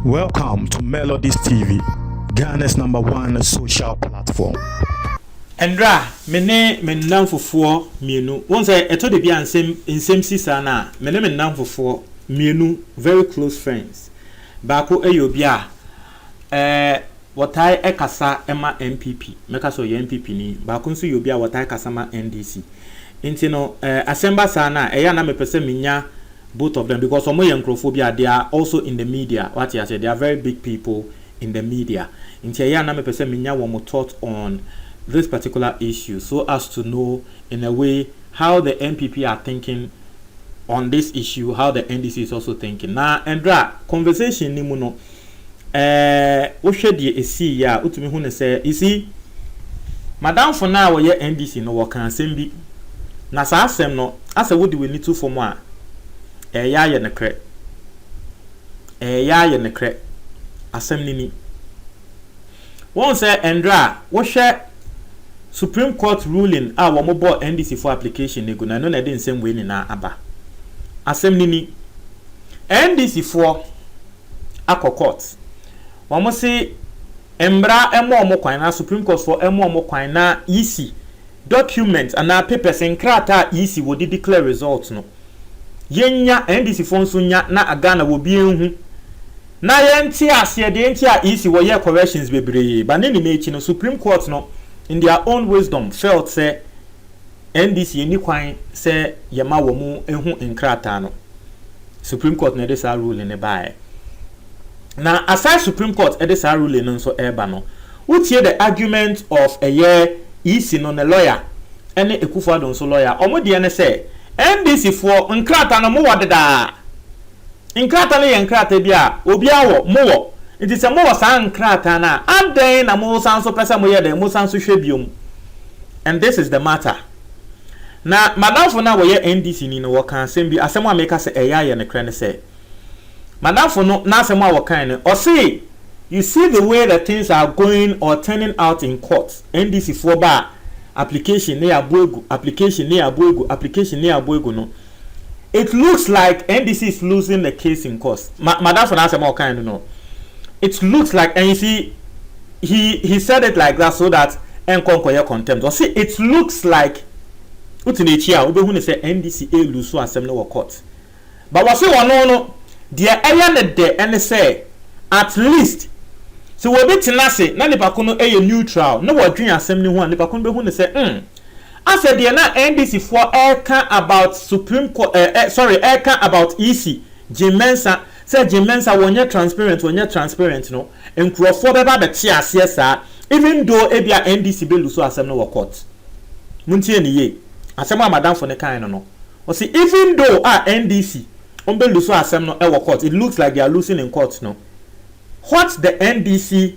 Welcome to Melodies TV, Ghana's number one social platform. Ɛnra me ne me nnamfofoɔ mmienu wohu sɛ ɛtɔ da bi a nsɛm nsɛm si saa no a me ne me nnamfofoɔ mmienu very close friends baako yɛ obi a Eh, wɔtae kasa ma NPP, mɛka sɛ ɔyɛ NPP ni, baako nso yɛ obi a wɔtae kasa ma NDC. Nti no eh, asɛm ba saa no a, ɛyɛ a na mepɛ sɛ menya both of them because wɔn yɛ nkurɔfoɔ bi a they are also in the media, wate aseɛ, they are very big people in the media. Nti ɛyɛ a na mepɛ sɛ menya wɔn thought on this particular issue so as to know in a way how the NPP are thinking on this issue, how the NDC is also thinking. Na ɛnderɛ a conversation ni mu no, Ɛɛ, wohwɛ deɛ ɛsiiɛ a, wotumi hu no sɛ, you see, m'adamfo no a ɔyɛ NDC no, wɔkaa asɛm bi, na saa asɛm no, asɛ wode w'ani to fam a, ɛreyɛ ayɛ nokorɛ. Ɛreyɛ ayɛ nokorɛ. Asɛm no ni. Wohu sɛ ɛnderɛ a, wohwɛ Supreme Court ruling a wɔbɔɔ NDC foɔ application no agu no, ɛno na ɛde nsɛm wei nyinaa aba. Asɛm no ni. NDC foɔ. akɔ court. Wɔn se mmra mma wɔn kwan anaa Supreme Court foɔ mma wɔn kwan na yisi document anaa papers, nkrataa a yisi wɔde declare result no yɛnya, NDC foɔ nso nya na Ghana wɔ bi nhu na yɛnte aseɛ deɛ nti a yisi wɔ yɛɛ corrections bebree but ne nyinaa akyi no Supreme Court no in their own wisdom felt sɛ NDC nni kwan sɛ yɛma wɔn hu nkrataa no. Supreme Court na ɛde saa ruling no baeɛ. Na aside Supreme Court de saa ruling no nso reba no, wotie the argument of ɛyɛ EC no ne lawyer ne Akufo-Addo nso lawyer. Wɔn deɛ ne sɛ, NDC-foɔ, nkrataa no mowɔ dedaa. Nkrataa no yɛ nkrataa bi a obiara wɔ, mowɔ. Enti sɛ mowɔ saa nkrataa no a, adɛn na mosan nso pɛ sɛ moyɛ dɛn? Mosan nso hwɛ bio? And this is the matter. Na m'adamfo no a ɔyɛ NDC ni no, ɔka asɛm bi, asɛm a meka sɛ ɛyɛ a ɛyɛ nokorɛ ne sɛ, m'adamfo no n'asɛm a ɔkae no, ɔse, You see the way the things are going or turning out in court, NDC foɔ ba a, application ne yɛabɔ agu, application ne yɛabɔ agu, application ne yɛabɔ agu no, It looks like NDC is losing the case in court. Ma madamfo na asɛm a ɔkae no no. It looks like and you see he he said it like that so that ɛnkɔ nkɔyɛ contempt. Ɔse it looks like wote n'akyi a wobɛhu no sɛ NDC ɛlusu asɛm no wɔ court. But wɔse ɔno no deɛ ɛyɛ ne dɛ ɛne sɛ at least sɛ wɔbi tena ase na nipa ko no ɛyɛ neutral na wɔdwen asɛm no ho a nipa ko no bɛhu no sɛ mm Asɛ deɛ na NDC foɔ ɛreka about supreme court eh eh sorry ɛreka about EC, Jim Mensah, sɛ Jim Mensah wɔnyɛ transparent wɔnyɛ transparent no, nkorɔfoɔ bɛba abɛte aseɛ saa even though ebia NDC bɛ lusu asɛm no wɔ court. Montie no yie, asɛm a madamfo no kaeɛ no no, ɔse even though a NDC wɔn bɛ lusu asɛm no ɛwɔ court, it looks like they are loosing in court no, what the NDC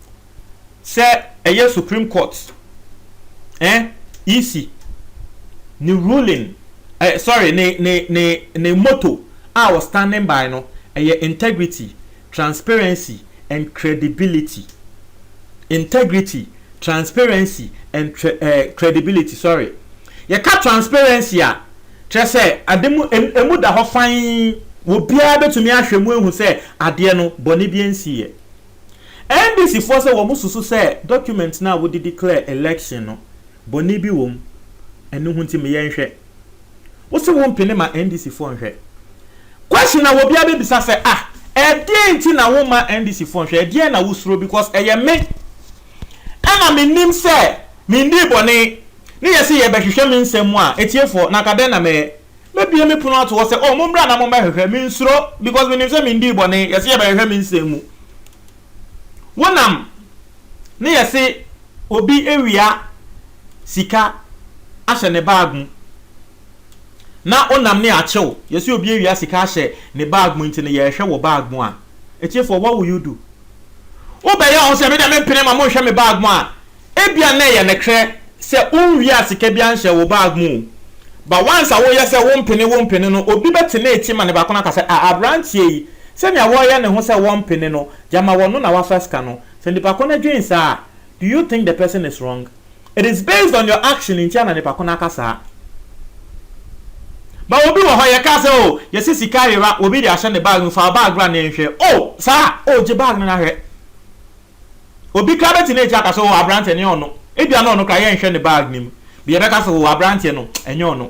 sɛ ɛyɛ supreme court eh EC ne ruling eh sorry ne ne ne ne motto a wɔ standing by no ɛyɛ integrity transparency and credibility integrity transparency and tre eh credibility sorry yɛka transparency a kyerɛ sɛ ade mu em, emu da hɔ fann obiara betumi ahwɛ mu ehu sɛ adeɛ no bɔne bi nsiiɛ. NDC foɔ sɛ wɔn susu sɛ document no a wode declare election no bɔne bi wɔ mu ɛno ho nti me yɛ nhwɛ. Wo se wo mpene ma NDC foɔ nhwɛ. Question a obiara bɛbisa sɛ ah ɛdeɛn nti na wo mma NDC foɔ nhwɛ ɛdeɛn na wo suro because ɛyɛ me ɛna me nim sɛ me ndii bɔne ne yɛ se yɛ bɛhwehwɛ me nsɛm mu a ɛtiefoɔ na anka dɛn na mɛyɛ. Mɛbue me pono ato hɔ sɛ, O mommra na mommɛhwehwɛ, mensuro, because menim sɛ mendii bɔne, yɛse yɛbɛhwehwɛ me nsɛm mu. Wonam ne yɛse obi awia sika ahyɛ ne bag mu, na onam ne akye wo, yɛse obi awia sika ahyɛ ne bag mu nti no yɛrehwɛ wɔ bag mu a, atiefoɔ what will you do? Wobɛyɛ ɔho sɛ medeɛ mempene ma monhwɛ me bag mu a, Ebia na ɛyɛ nokorɛ sɛ wonwia sika biara nhyɛɛ wo bag mu o, but once a woyɛ sɛ wompene wompene no, obi bɛtena akyi ma nipa ko no aka sɛ, ah, aberanteɛ yi, sɛnea ɔreyɛ ne ho sɛ wɔmpene no, gyama wɔno na wafa sika no. Sɛ nipa ko no dwen saa a, do you think the person is wrong? It is based on your action ntia na nipa ko no aka saa. But obi wɔ hɔ, yɛkaa sɛ, oh, yɛse sika yera, obi de ahyɛ ne bag mu, fa wo bag bra na yɛnhwɛ. Oh, saa? Oh, gye bag no na hwɛ. Obi koraa bɛte n'akyi aka sɛ, 'O, aberanteɛ no, ɛnyɛ ɔno. Ebia na ɔno koraa, yɛnhwɛ ne bag no mu. Bia yɛbɛka sɛ, 'O, aberanteɛ no, ɛnyɛ ɔno.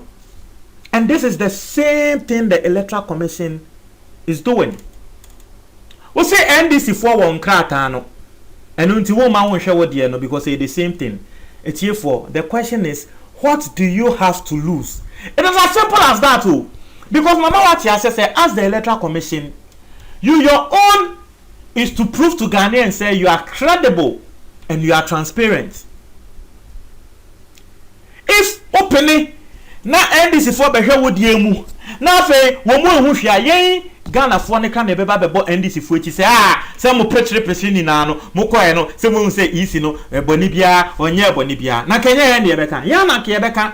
And this is the same thing the Electoral Commission is doing. Wose NDC foɔ wɔ nkrataa no, ɛno nti womma wonhwɛ wo deɛ no because ɛyɛ the same thing. Atiefoɔ, the question is, what do you have to lose? It is as simple as that o. Because mama woate aseɛ sɛ as the Electoral Commission, you your own. is to prove to Ghanaians sɛ you are credible and you are transparent. If wo pene na NDC foɔ bɛhwɛ wo deɛ mu na afei wɔn mu nhu hwee a, yɛn Ghana foɔ no ka na yɛbɛba abɛbɔ NDC foɔ akyi sɛ ah sɛ mo prekyere prekyere nyinaa no mo kɔɛ no sɛ mo hu sɛ EC no bɔne biara ɔnyɛɛ bɔne biara na nka ɛnyɛ yɛn na yɛbɛka yɛn na nka yɛbɛka.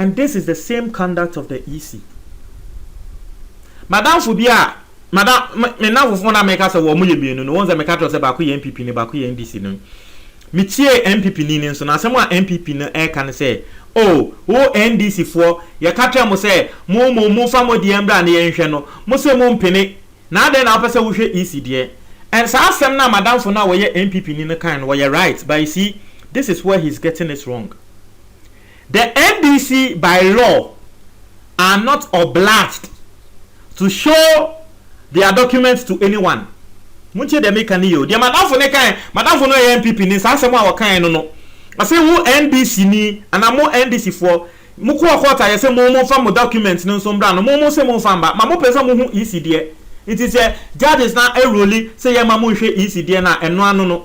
and this is the same conduct of the EC. M'adamfo bi a, madam, me, me nnamfofoɔ no a meka sɛ wɔn yɛ mmienu no, wɔn sɛ meka kyerɛ sɛ baako yɛ NPP ni, baako yɛ NDC ni. Metie NPP ni no nso no, asɛm a NPP no ɛreka no sɛ, oh, wo NDC foɔ, yɛka kyerɛ mo sɛ, mo mo, momfa mo deɛ mbra na yɛnhwɛ no, mo se mo mpene, na adɛn na wopɛ sɛ wohwɛ EC deɛ? And saa asɛm no a m'adamfo no a wɔyɛ NPP ni no kae no, wɔyɛ right, but you see, this is where he's getting it wrong. The NDC by law are not obliged to show their documents to anyone. Montie deɛ meka no yie o. Deɛ madamfo no kae, madamfo no yɛ NPP ni, saa asɛm a ɔkae no no, ɔse wo NDC ni anaa mo NDC foɔ, mokɔɔ court a yɛse mo momfa mo documents no nso mbra no, mo mose momfa mba, ma mopɛ sɛ mohu EC deɛ. Nti sɛ judges no aruli sɛ yɛmma monhwɛ EC deɛ no a, ɛno ano no.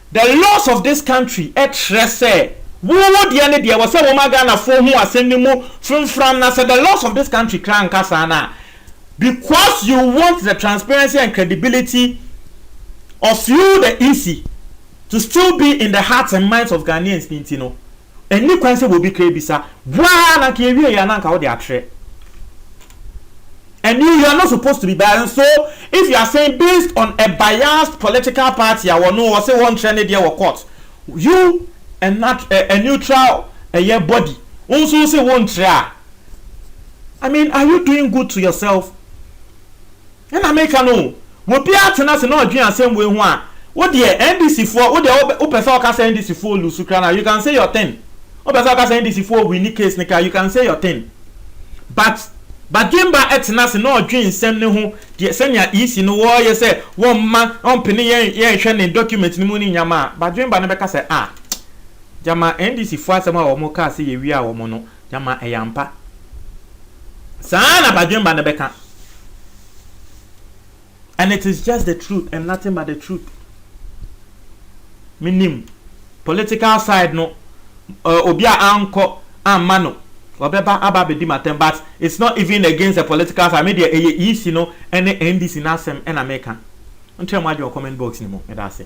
The laws of this country kyerɛ sɛ wo wo deɛ ne deɛ, ɛwɔ sɛ wo ma Ghanafoɔ hu asɛm no mu framfram na sɛ the laws of this country koraa nka saa no a, because you want the transparency and credibility of you the EC to still be in the hearts and minds of Ghanaians no nti no, Ɛnni kwan sɛ obi kra bi sa. Boa ara na anka yɛwie yɛ a na anka wode atrɛ. And you, you are not supposed to be biased. And so if you are saying based on a biased political party a wɔno wɔse wɔnkyerɛ ne deɛ wɔ court, you a nat a neutral ɛyɛ body wo nso wose wonkyerɛ a, I mean are you doing good to yourself? Ɛna meka no o, wɔbiara tena ase na ɔdwen asɛm wei ho a, wo deɛ NDC foɔ, wo deɛ wo pɛ sɛ ɔka sɛ NDC foɔ loose koraa no a, you can say your thing, wo pɛ sɛ ɔka sɛ NDC foɔ winni case no koraa, you can say your thing, but Badwemba tena ase na ɔdwen nsɛm no ho, deɛ sɛnea EC no wɔreyɛ sɛ wɔmma, ɔmpene yɛn, yɛnhwɛ ne document no mu ne nneɛma a, Badwemba no bɛka sɛ ah, gyama NDC foɔ asɛm a wɔn kaa sɛ yɛwiaa wɔn no, Gyama ɛyɛ ampa. Saa ara na badwemma no bɛka. And it is just the truth and nothing but the truth. Menim political side no uh, obi a ankɔ amma no ɔbɛba aba abɛdi matam but it's not even against the political side me deɛ ɛyɛ EC no ɛne NDC no asɛm ɛna meka nkyerɛ mo adwene comment box no mu meda ase.